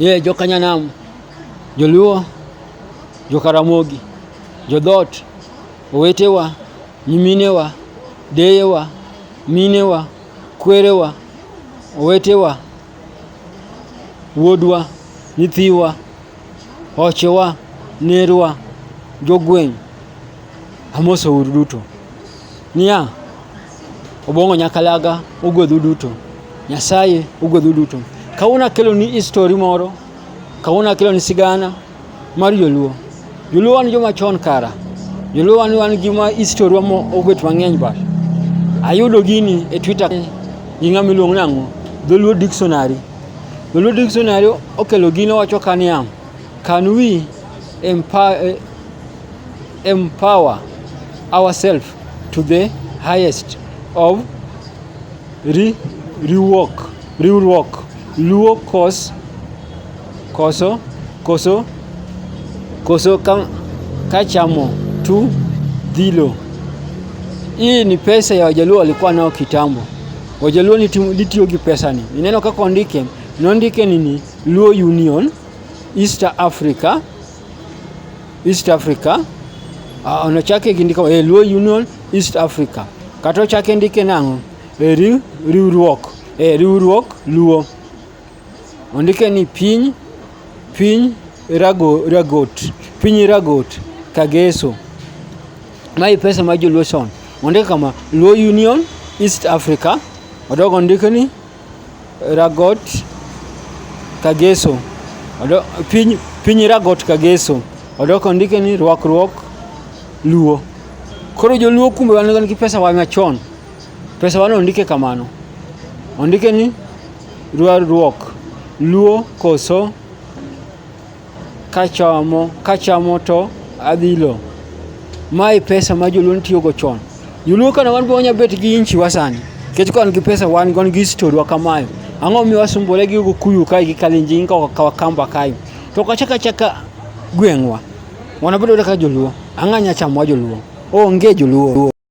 Ye jokanyanam, joluo, jokaramogi, jodhoot, owetewa, nyiminewa, deyewa, minewa, kwerewa, owetewa, wuodwa, nyithiwa, ochewa, nerwa, jogweng', amoso uru duto. Niya, Obongo Nyakalaga ogwedhu duto. Nyasaye ogwedhu duto. Kawuono akelo ni histori moro, kawuono akelo ni sigana mar Joluo. Joluo wan joma chon kara. Joluo wan wan gi ma histori wa obet mang'eny ba. Ayudo gini e Twitter gi ng'ama iluongo nang'o? Dholuo Dictionary. Dholuo Dictionary okelo gino wacho ka niya, can we empower, eh, empower ourselves to the highest of ri, riwruok riwruok luo kos koso koso koso ka, kachamo tu dhilo hii ni pesa ya wajaluo walikuwa nao kitambo wajaluo litiyo gi pesa ni ineno kaka ondike nondike nini luo union east africa East Africa uh, onochake gi ndiko e Luo Union East Africa kata ochake ndike nang'o e riw, riwruok e riwruok Luo ondike ni piny piny rago, ragot piny ragot kageso mae pesa ma joluo chon ondike kama Luo Union East Africa odogo ondike ni Ragot Kageso odo, piny, piny Ragot Kageso odok ondike ni rwakruok Luo. Koro joluo kumbe wan gan gi pesa wa machon. Pesa wan ondike kamano. Ondike ni rwakruok Luo koso Kachamo, kachamo to adhilo. Mae pesa ma joluo nitiyogo chon. Joluo kane wan be wanya bet gi inchi wa sani. Nikech ka wan gi pesa wan gon gi story wa kamayo. Ang'o mi wasumbore gi Kikuyu kae gi Kalenjin ka Wakamba kae. To kachaka chaka gweng'wa. Wanabedo kaka joluo. Ang'anya chamo wa joluo. Onge joluo.